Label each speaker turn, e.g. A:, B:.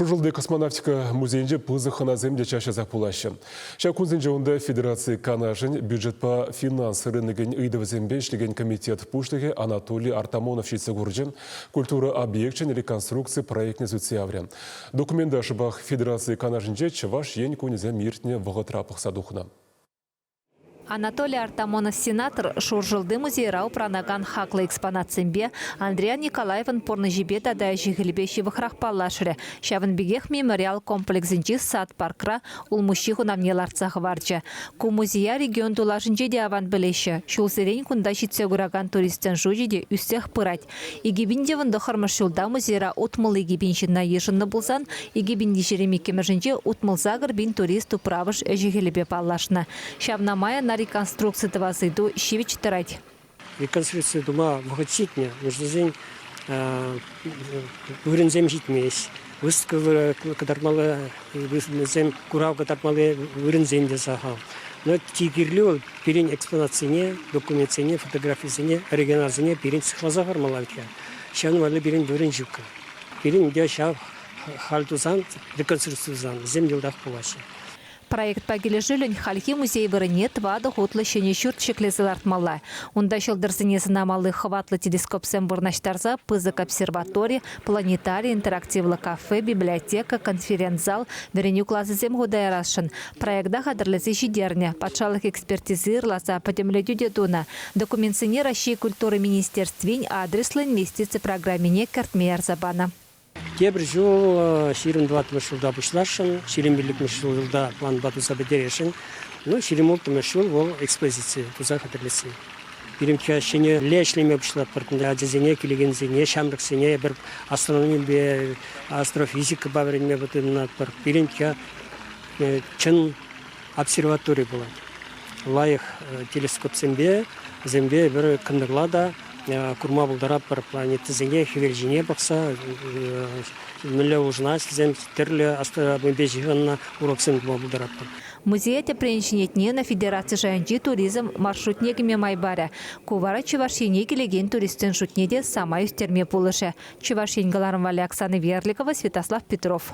A: Шуршӑлти космонавтика музейӗнче пысӑк хӑнасем те час-часах пулаҫҫӗ. Ҫак кунсенче унта Федераци Канашӗн бюджетпа финанс рынокӗн ыйтӑвӗсемпе ӗҫлекен комитет пуҫлӑхӗ Анатолий Артамонов ҫитсе курчӗ, культура объекчӗн реконструкци проектне сӳтсе яврӗ. Документа шӑпах Федераци Канашӗнче Чӑваш Ен кунӗсем иртнӗ вӑхӑтра пӑхса тухнӑ.
B: Анатолий Артамонов сенатор Шуршӑлти музейра упранакан хаклӑ экспонатсемпе, Андриян Николаевӑн пурнӑҫӗпе тата ӗҫӗ-хӗлӗпе ҫывӑхрах паллашрӗ. Ҫавӑн пекех мемориал комплексӗнчи сад-паркра улмуҫҫи хунавне лартса хӑварчӗ. Ку музея регион тулашӗнче те аван пӗлеҫҫӗ. Ҫулсерен кунта ҫитсе куракан туристсен шучӗ те ӳссех пырать. Икипин тӑхӑрмӗш ҫулта музейра утмӑл икипин ҫынна йышӑннӑ пулсан, икипин иккӗмӗшӗнче утмӑл-сакӑр пин турист управӑш ӗҫӗ-хӗлӗпе паллашнӑ. Ҫавна май ӑна реконструкци тӑвас ыйту ҫивӗч тӑрать. Реконструкци
C: тума вӑхӑт ҫитнӗ, вырсӑсен вырӑнсем ҫитмест. Выставка кӑтартмалли вырӑнсем, курав кӑтартмалли вырӑнсем те сахал. Но чи кирли вӑл пирӗн экспонатсене, документсене, фотографисене, оригиналсене пирӗн сыхласа хӑвармалла иккен. Ҫавӑн валли пирӗн вырӑн ҫук. Пирӗн те ҫав халь тусан, реконструкци тусан вӗсем йӑлтах пулаҫҫӗ. Проектпа
B: килӗшӳллӗн хальхи музей вырӑнне тӑватӑ хутлӑ ҫӗнӗ ҫурт ҫӗклесе лартмалла. Унта ҫӑлтӑрсене сӑнамалли хӑватлӑ телескопсем вырнаҫтарса пысӑк обсерватори, планетари интерактивлӑ кафе, библиотека, конференц-зал, вӗренӳ класӗсем хута ярасшӑн. Проекта хатӗрлесе ҫитернӗ, патшалӑх экспертизи ырласа пӗтӗмлетӳ те тунӑ. Документсене Раҫҫей культура министерствин адреслӑ инвестици программине кӗртме ярса панӑ. Тепӗр ҫул
C: ҫирӗм тӑватмӗш ҫулта пуҫласшӑн, ҫирӗм пиллӗкмӗш ҫулта планпа туса пӗтересшӗн. Ну, ҫирӗм улттӑмӗш ҫул вӑл экспозици туса хатӗрлесси. Пирӗнкке ҫӗнӗлле ӗҫлеме пуҫлатпӑр. Ачасене, килекенсене, ҫамрӑксене эпир астрономипе, астрофизикӑпа вӗренме пытанатпӑр. Пирӗнкке чӑн обсерватори пулать. Лайӑх телескопсемпе вӗсемпе эпир кӑнтӑрла та курма пултаратпӑр планетӑсене хӗвел ҫине пӑхса мӗнле улшӑнас тесен тӗрлӗ астрономипе ҫыхӑннӑ уроксем тума пултаратпӑр. Музее тӗпрен
B: ҫӗнетнин федераци шайӗнчи туризм маршрутне кӗме май парӗ. Ку вара Чӑваш Ене килекен туристсен шутне те самай ӳстерме пулӑшӗ, Чӑваш Ен кӑларӑм валли Оксана Верликова, Святослав Петров.